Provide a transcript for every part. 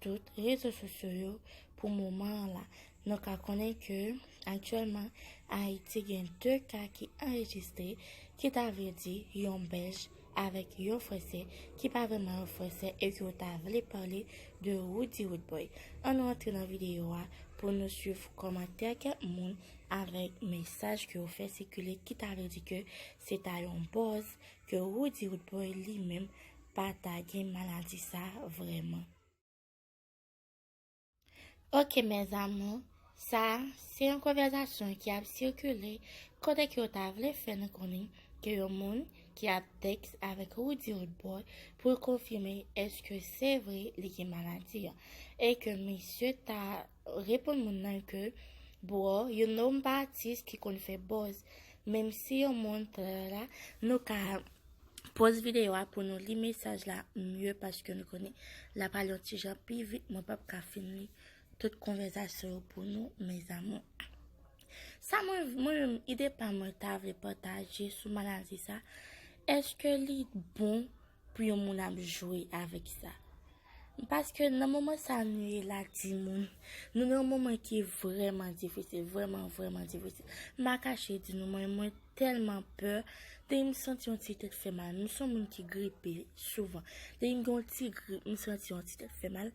tout rezo sosyo yo pou moman an la. Nou ka konnen ke aktyèlman Ayiti gen 2 ka ki anrejistre ki ta vle di yon bèlj avèk yon fransè ki pa vrèman yon fransè e ke yo ta vle pale de Roody Roodboy. An nou antre nan videyo a pou nou swiv kòmantè kèk moun avèk mesaj ke yo fè sikile ki ta vle di ke se ta yon bòz ke Roody Roodboy li menm pa ta gen maladi sa vreman. Ok mes amours, sa a se yon konvèzasyon ki ap sikile kote ke yo ta vle fè nou konnen ke yon moun ki ap tèks avèk Roody Rodboy pou l konfime eske se vre li gen maladi an e ke misye ta reponn moun nan ke broh you know m pa atis ki konn fè buzz menm si yon moun tralala nou ka Poz video a pou nou li mesaj la mye paske nou konnen la pale yon ti jan pi vit mwen pap ka fin li tout konvèzasyon yo pou nou mes amours. Sa mwen mwen ide pa mwen ta vle pataje sou maladi sa eske li bon pou yon moun ap jwe avèk sa. Paske nan moman sa nou ye la ti moun, nou nan yon moman ki vreman difisil, vreman vreman difisil. Ma kache di nou mwen mwen Tèlman pè, depi m santi yon ti tèt fè mal, m son moun ki gripe souvan, depi m gen yon ti grip m santi yon ti tèt fè mal,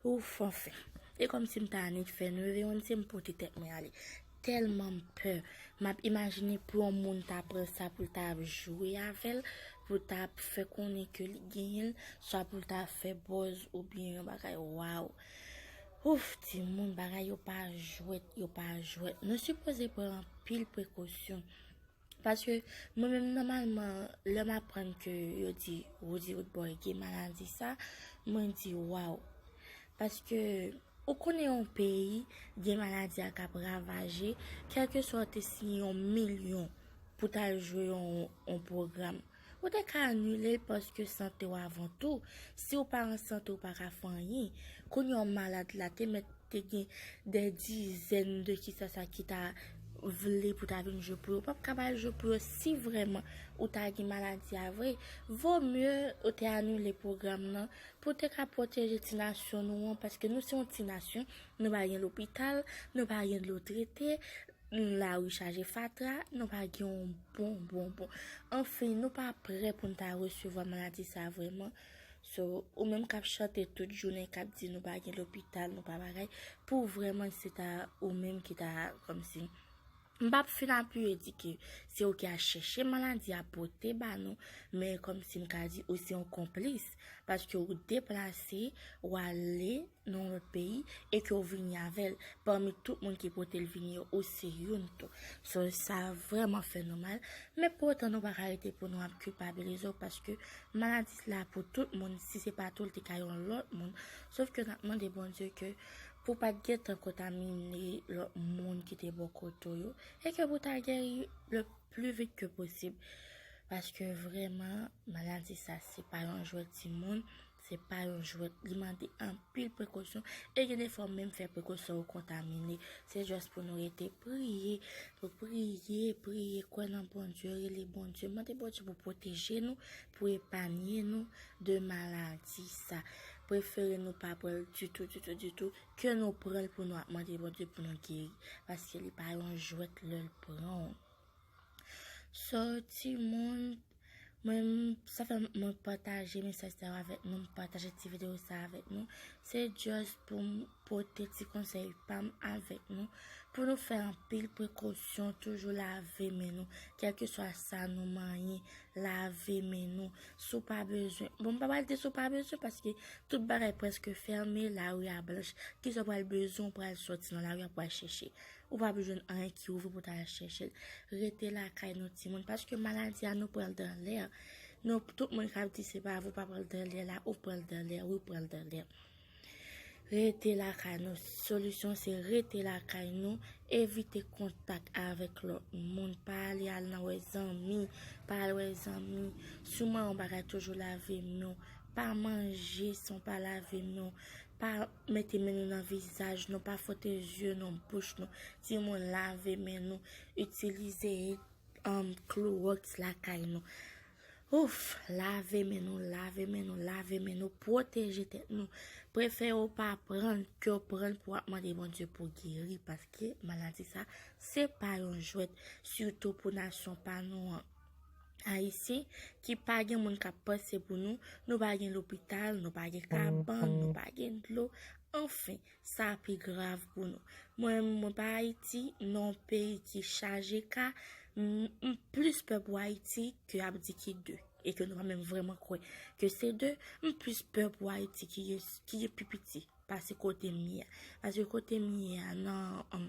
ouff anfen. E kòmsi m ta annik fè, m leve yon se m pote tèt mwen ale. Tèlman m pè, m ap imajine pou yon moun ta pran sa pou l ta ap jwe avè l, pou l ta ap fè konnen ke li genyen l, swa pou l ta fè bòz oubyen yon bagay waww. Ouff timoun bagay yo pa jwèt yo pa jwèt nou sipoze pran anpil prekosyon paske mwen menm nòmalman lèm aprann ke yo di Roody Roodboy gen maladi sa mwen di waw paske ou konnen yon peyi gen maladi a kap ravaje kèlkeswa ou te siyen yon milyon pou tal jwe yon pwogram Ou te ka anile l paske sante w avan tou. Si w pa an sante ou pa ka fè anyen. Kounya w malad la te mèt te gen dè dizèn de kisa sa ki ta vle pou ta vin jwe pou yo. Ou pap ka ba l jwe pou yo si vrèman ou ta gen maladi a vre. Vo mye ou te anile pwogram nan pou w te ka pwoteje ti nasyon nou an paske nou se yon ti nasyon nou pa gen lopital, nou pa gen dlo trete. Yon lari chaje fatra, nou pa gen yon bon bon bon. Anfen, nou pa prè pou n ta resevwa maladi sa a vrèman. So, ou menm k ap chante tout jounen, k ap di nou pa gen lopital, nou pa bagay, pou w vrèman se ta ou menm ki ta kòmsi. M p ap fin apiye di ke se ou ki al chèche maladi a pote ba nou, men kòmsi m ka di ou se yon konplis, paske ou deplase, ou ale. nan lòt peyi e ke w vini avè l, pami tout moun ki pote l vini yo, ou se youn tou. So, sa vrèman fè nou mal, men pou otan nou pa ka rete pou nou ap kilpabilize w paske maladi sila pou tout moun, si se pa tou l te ka yon lòt moun, sof ke n ap mande Bondye ke pou pa t gen tan kontamine lòt moun ki te bò kote w yo e ke pou ta geri le pli vit ke posib paske vrèman maladi sa se pa yon jwèt timoun. Se pa yon jwèt, li mande anpil prekosyon e gen defwa ou menm fè prekosyon ou kontamine. Se just pou nou rete priye, pou priye, priye, kwè nan Bondye, rele Bondye, mande Bondye pou pwoteje nou, pou epanye nou de maladi sa. Prefere nou pa pran l ditou, ditou, ditou, ke nou pran l pou nou ap mande Bondye pou nou geri. Paske li pa yon jwèt lè l pran ou. So ti moun Mwen sa fè mwen pataje mesaj sa yo avèk nou, pataje ti video sa avèk nou. Se just pou m pote ti konsèy pam avèk nou. Pou nou fè anpil prekosyon, toujou lave men nou. Kèlke swa sa nou manyen, lave men nou. Sou pa bezwen. Bon, m pa pral di sou pa bezwen, paske tout bagay preske fèmen, la ri a blanch. Ki sa pral bezwen, pral soti nan la ri a pral chèche. Ou pa p jwenn anyen ki ouvri pou ta al chèche l. Rete lakay nou timoun paske maladi a nou pran l dan lè. Nou tout moun k ap di se pa vre ou pa pran l dan lè la, ou pran l dan lè, wi ou pran l dan lè. Rete lakay nou, solisyon se rete lakay nou, evite kontak avèk lòt moun, pa ale al nan wè zanmi, pa al wè zanmi, souman yon bagay toujou lave men w, pa manje san w pa lave men w, pa. Mete men nou nan vizaj nou, pa fwote zye nou, bouch nou. Di moun lave men nou, itilize kloroks lakay nou. Ouf! Lave men nou, lave men nou, lave men nou, pwoteje tèt nou. Prefere ou pa pranl ke ou pranl pou ap mande Bondye pou geri paske maladi sa se pa yon jwèt sitou pou nasyon pa nou an. Ayisyen ki pa gen moun kap panse pou nou, nou pa gen lopital, nou pa gen kabann, nou pa gen dlo, anfen, sa a pi grav pou nou. Mwen menm mwen pa Ayiti, nan yon peyi ki chaje ka, m plis pè pou Ayiti ke ap di ki de, e ke nou pa menm vreman kwè ke se de, m plis pè pou Ayiti ki gen pi piti. pase kote m ye a. Pase kote m ye a nan,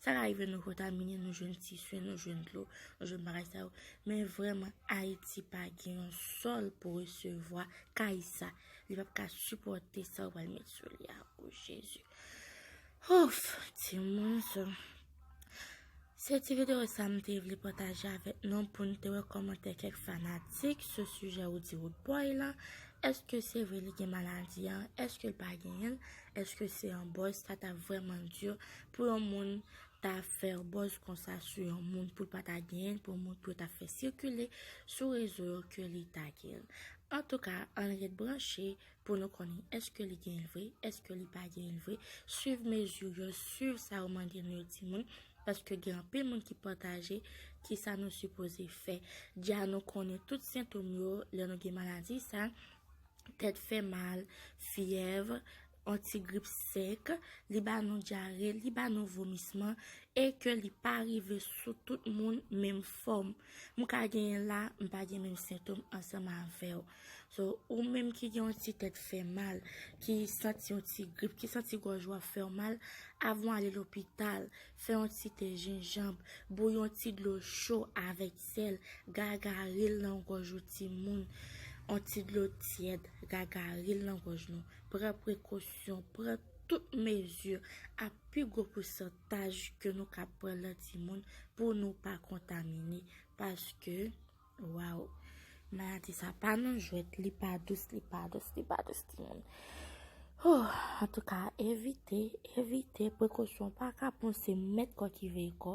sa ka rive nou kontamine, nou jwenn tisu, nou jwenn dlo, nou jwenn bagay sa yo. Men vreman, Ayiti pa gen yon sol pou resevwa kay sa. Li pap ka sipote sa yo pral met sou li a. O Jezi! Ouf! Ti moun sa. Se ti video sa m te vle pataje avèk nou pou n te wè kòmantè kèk fanatik sou sijè Roody Roodboy lan, èske se vre li gen maladi an, èske l pa genyen l, èske se yon buzz, sa ta vrèman di pou yon moun ta fè yon buzz konsa sou yon moun pou l pa ta genyen l, pou yon moun pou yo ta fè sikile sou rezo yo ke li ta genyen l. Antouka, ann ret branche pou nou konnen eske li genyen l vre, eske li pa genyen l vre, swiv mezi yo, swiv sa yo mande nou yo timoun, paske gen anpil moun ki pataje ki sa nou sipoze fè. Dja nou konnen tout sentom yo lè nou gen maladi sa, tèt fè mal, fyèv, yon ti grip sèk, li ba nou dyare, li ba nou vomisman, e ke li pa rive sou tout moun menm fòm. M ka genyen l la, m pa gen menm sentom ansanm avè w. So, ou menm ki gen yon ti tèt fè mal, ki santi yon ti grip, ki santi gòj ou ap fè w mal, avan w ale lopital, fè yon ti te jenjanb, bouyi yon ti dlo cho avèk sèl, gagari l nan gòj ou timoun. Yon ti dlo tyèd, gagari l nan gòj nou. Pran prekosyon, pran tout mezi a pi gwo pousantaj ke nou kab pran lan timoun pou nou pa kontamine. Paske. Waww maladi sa pa nan jwèt li pa dous li pa dous li pa dous ti moun oh antouka evite evite prekosyon pa ka pon se mèt kò ki veye kò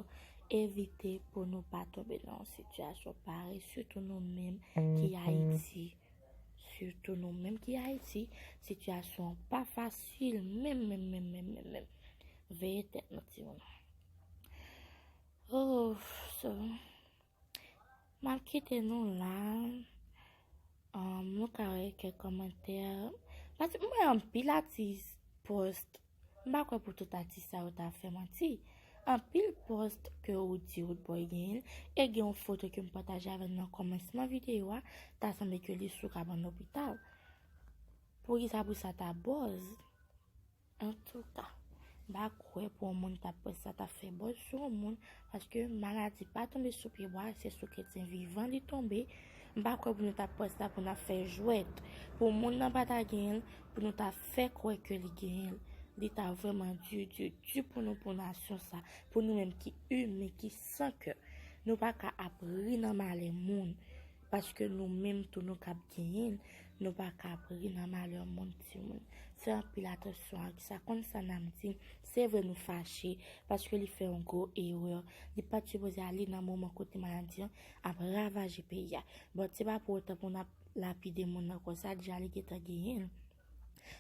evite pou nou pa tobe nan sityasyon pare sitou nou menm ki ayiti sitou nou menm ki ayiti sityasyon pa fasil menm menm menm menm menm menm veye tèt nou ti moun oh so Mwen kite nou la. Um, nou ka wè kè komantè. Pati mwen an pil atis post. Mba kwe pou tout atis sa yo ta fè manti. An pil post ke ou di ou dbo gen. E gen yon foto ke mpataje avè nan komensman videyo a. Ta sanbe ke li sou kaban lopital. Pou ki sa pou sa ta boz. Antouka, m pa kwè pou yon moun ta pwès sa ta fè bòz sou yon moun, paske maladi pa tonbe sou pye bwa, se sou kretyen vivan li tonbe. M pa kwè pou nou ta pwès sa pou n ap fè jwèt, pou moun nan pa ta genyen l, pou nou ta fè kwè ke li genyen l. Li ta vrèman di, di, di pou nou pou nasyon sa, pou nou menm ki imen, ki san kè. Nou pa ka ap ri nan malè moun. Paske nou menm tou nou kap genyenl nou paka ap ri nan malè moun timoun fè anpil atansyon ak sa konn sa nap di se vre nou fache paske li fè yon gwo erè li pat sipoze ale nan moman kote maladi an ap ravaje peyi a but se pa pou otan pou nap lapide moun nan konsa deja li gentan genyenl.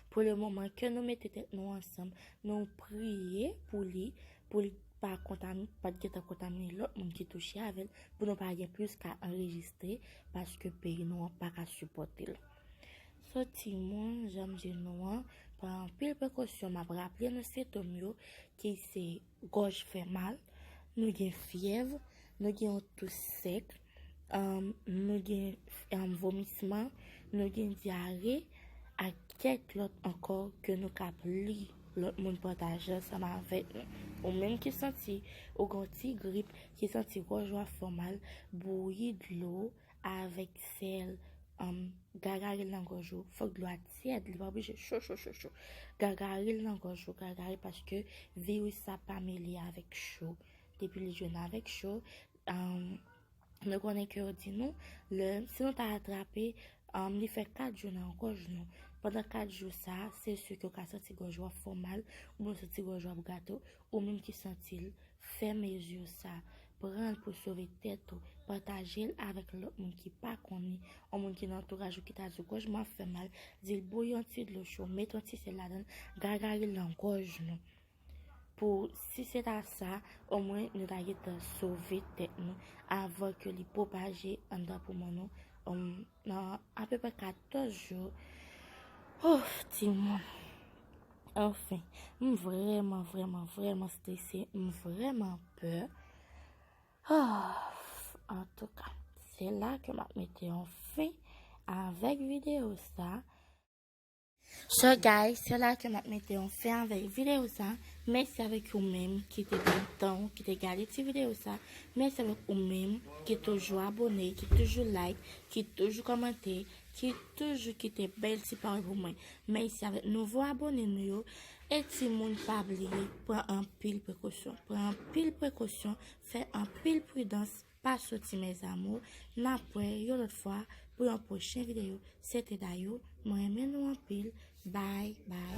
Pou le moman ke nou mete tèt nou ansanm, nou priye pou li, pou li pa kontamine, pa t gentan kontamine lòt moun ki touche avè l, pou nou pa gen plis ka anrejistre, paske peyi nou an pa ka sipòte l. So timoun, jan m di nou an, pran anpil prekosyon, m ap raple nou sentòm yo ki se. Gòj fè mal, nou gen fyèv, nou gen yon tou sèk, nou gen vomisman, nou gen dyare, ak kèk lòt ankò ke nou kab li lòt moun pataje ansanm avèk nou. Ou menm ki santi ou gen yon ti grip, ki santi gòj ou ap fè w mal, bouyi dlo avèk sèl humm gagaril nan gòj ou fòk dlo a tyèd li pa oblije cho cho cho cho gagaril nan gòj ou gagaril paske viris sa pa mele avèk cho depi li jwenn avèk cho humm Nou konnen ke yo di nou, lè, si nou pa atrape, um, li fè 4 jou nan gòj nou. Pandan 4 jou sa, se sou ke w ka santi gòj wap fò mal, ou mwen santi gòj wap gato, Ou menm ki santil, fè mezi sa, pranl pou sove tèt ou, patajel avèk lòt moun ki pa konnen, on moun ki nan antouraj ou ki ta diw gòj mwen ap fè mal, dil bouyi yon ti dlo cho, met yon ti sèl ladann, gagaril nan gòj nou. Pou si se ta sa, omwen nou ta gentan sove tèt nou avan ke li pwopaje anndan poumon nou. Nan apeprè 14 jou. Ouf timoun. Anfen. M vrèman vrèman vrèman strese. M vrèman pè. Ouf. Antouka. Se la ke m ap mete yon fen avèk videyo sa. So guys, se la ke map mete yon fen avèk video sa, mèsi avèk ou menm ki te pran tan ou, ki te gade ti video sa, mèsi avèk ou menm ki toujou abone, ki toujou like, ki toujou kòmante, ki toujou kite bèl ti pawòl pou mwen, mèsi avèk nouvo abone nou yo, e timoun pa bliye pran anpil prekosyon, pran anpil prekosyon, fè anpil pridans. Pa soti mes amours, nap wè yon lòt fwa pou yon pwochen video se te Dayou, mwen renmen nou anpil bye bye.